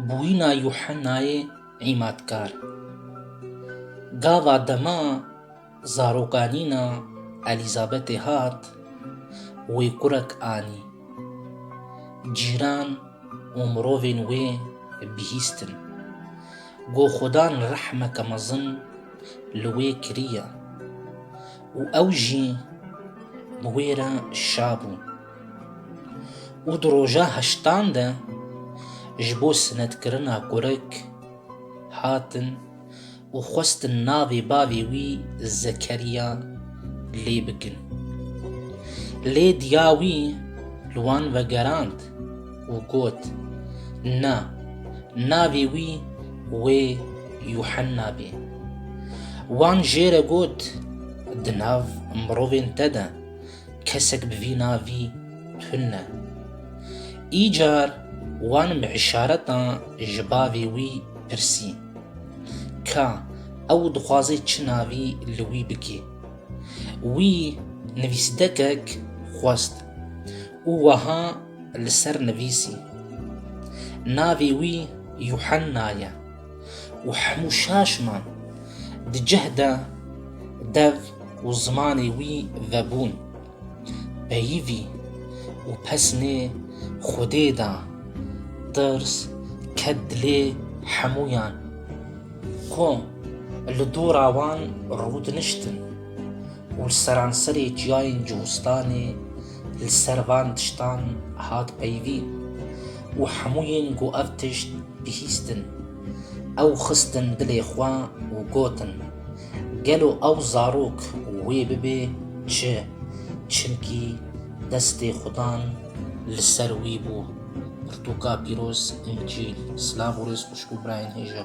Bûyîna Yuhennayê Îmadkar Gava dema zarokanîna Elîzabetê hat, wê kurek anî. Cîran û mirovên wê bihîstin. Got Xudan rehmeke mezin li wê kiriye û ew jî bi wê re şabû. û di roja heştan de ji bo sinetkirina kurik hatin û xwestin navê bavê wî Zekeriya lê bikin. Lê diya wî li wan vegerand û got, Na, navê wî wê Yuhenna bê. Wan jê re got, Di nav mirovên te de kesek bi vî navî tune ne. Îcar wan bi îşaretan ji bavê wî pirsî ka ew dixwaze çi navî li wî bikê. Wî nivîsdekek xwest û weha li ser nivîsî, Navê wî Yuhenna ye. û hemû şaşman di cih de dev û zimanê wî vebûn. Peyivî û pesnê Xwedê da. Tirs ket dilê hemûyan. Xwe li dora wan rûdiniştin û li seranserê çiyayên Cuhistanê li ser van tiştan hat peyivîn. û hemû yên ku ev tişt bihîstin, ew xistin dilê xwe û gotin, Gelo ew zarok wê bibe çi, çimkî destê xudan li ser wî bû. Pirtûka pîroz, Încîl. Silav û rêz xwişk û birayên hêja.